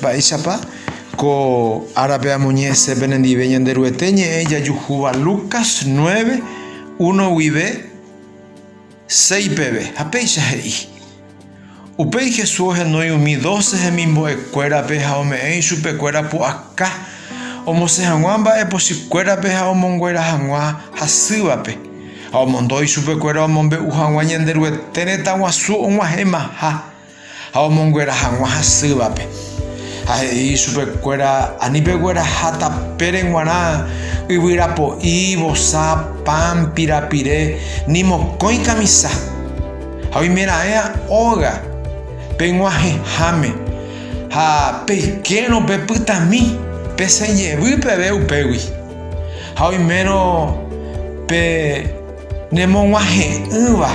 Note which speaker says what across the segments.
Speaker 1: Mba'éichapa ko árape amoñe'ẽse penendive Ñanderuete ñe'ẽ jajuhúva Lucas 9, 1 guive 6 peve? Ha péicha he'i, Upéi Jesús ohenói umi dóce hemimbo'ekuérape ha ome'ẽ ichupekuéra pu'aka omosẽ hag̃ua mba'e pochýkuérape ha omonguera hag̃ua hasývape, ha omondo ichupekuéra omombe'u hag̃ua Ñanderuete retãguasu og̃uahẽmaha. Ha omonguera hag̃ua hasývape. Ha he'i ichupekuéra, Ani pegueraha tapére g̃uarã, yvyra po'i, vosa, pan, pirapire, ni mokõi kamisa. Ha oimeraẽa óga peg̃uahẽháme, ha peikérõ pepytami, pesẽ jevy peve upégui. Ha oimérõ pe... Nemog̃uahẽ'ỹva,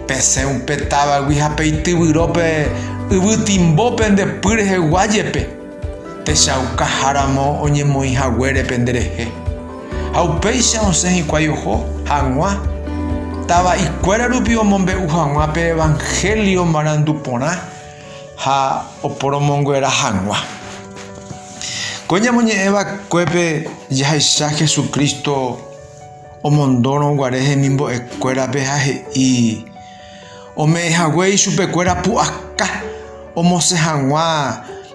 Speaker 1: pesẽ upe távagui ha peityvyro pe yvytimbo pende py rehegua jepe, techaukaharamo oñemoĩ haguére pende rehe. Ha upéicha osẽ hikuái oho hag̃ua tava'ikuéra rupi omombe'u hag̃ua pe evangelio marandu porã ha oporomonguera hag̃ua. Ko ñamoñe'ẽ vakuépe jahaicha Jesucristo. omondórõ guare hemimbo'ekuérape ha he'i, Ome'ẽ haguéi chupekuéra pu'aka omosẽ hag̃ua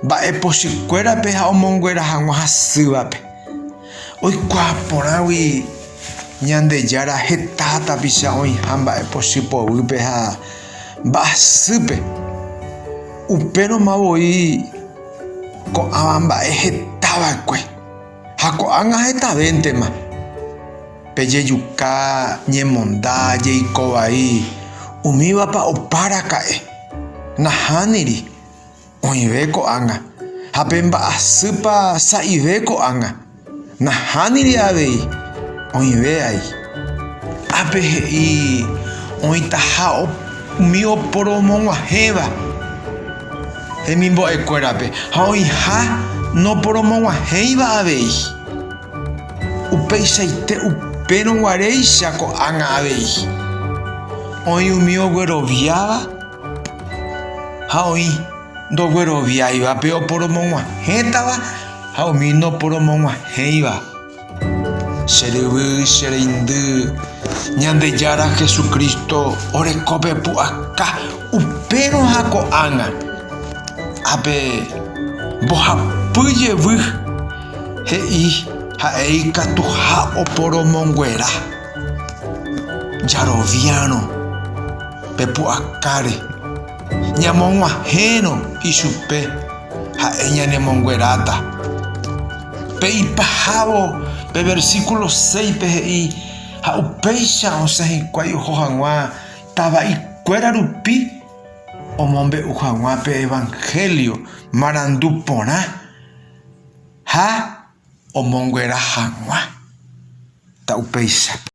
Speaker 1: mba'e pochykuérape ha omonguera hag̃ua hasývape. Oikuaa porãgui Ñandejára heta tapicha oĩha mba'e pochy poguýpe ha mba'asýpe, upérõ ma voi ko'ãva mba'e hetava'ekue. Ha ko'ág̃a hetavéntema pejejuka ñemonda jeiko vai, umívapa opa raka'e. Nahániri, oĩve ko'ág̃a. Ha pe mba'asýpa sa'ive ko'ág̃a. Nahániri avei, oĩve ai. Ápe he'i oĩtaha umi oporomog̃uahẽva. hemimbo'ekuérape ha oĩha noporomoguahẽiva avei. Upeichaite upérõ guaréicha ko'ág̃a avei, oĩ umi ogueroviáva ha oĩ ndogueroviáivape oporomoguahẽtava ha umi noporomoguahẽiva. Che ryvy, che reindy, Ñandejára Jesucristo orekópe pu'aka upérõ ha ko'ág̃a. Ápe mbohapy jevy, he'i ha'e ikatuha oporomonguera, Jaroviárõ pe pu'akáre. Ñamog̃uahẽrõ ichupe, ha'e ñanemongueráta. Pe ipahávo pe versíkulo séispe he'i, Ha upéicha osẽ hikuái oho hag̃ua tava'ikuéra rupi omombe'u hag̃ua pe evangélio marandu porã ha omonguera hag̃ua. Ta upéicha.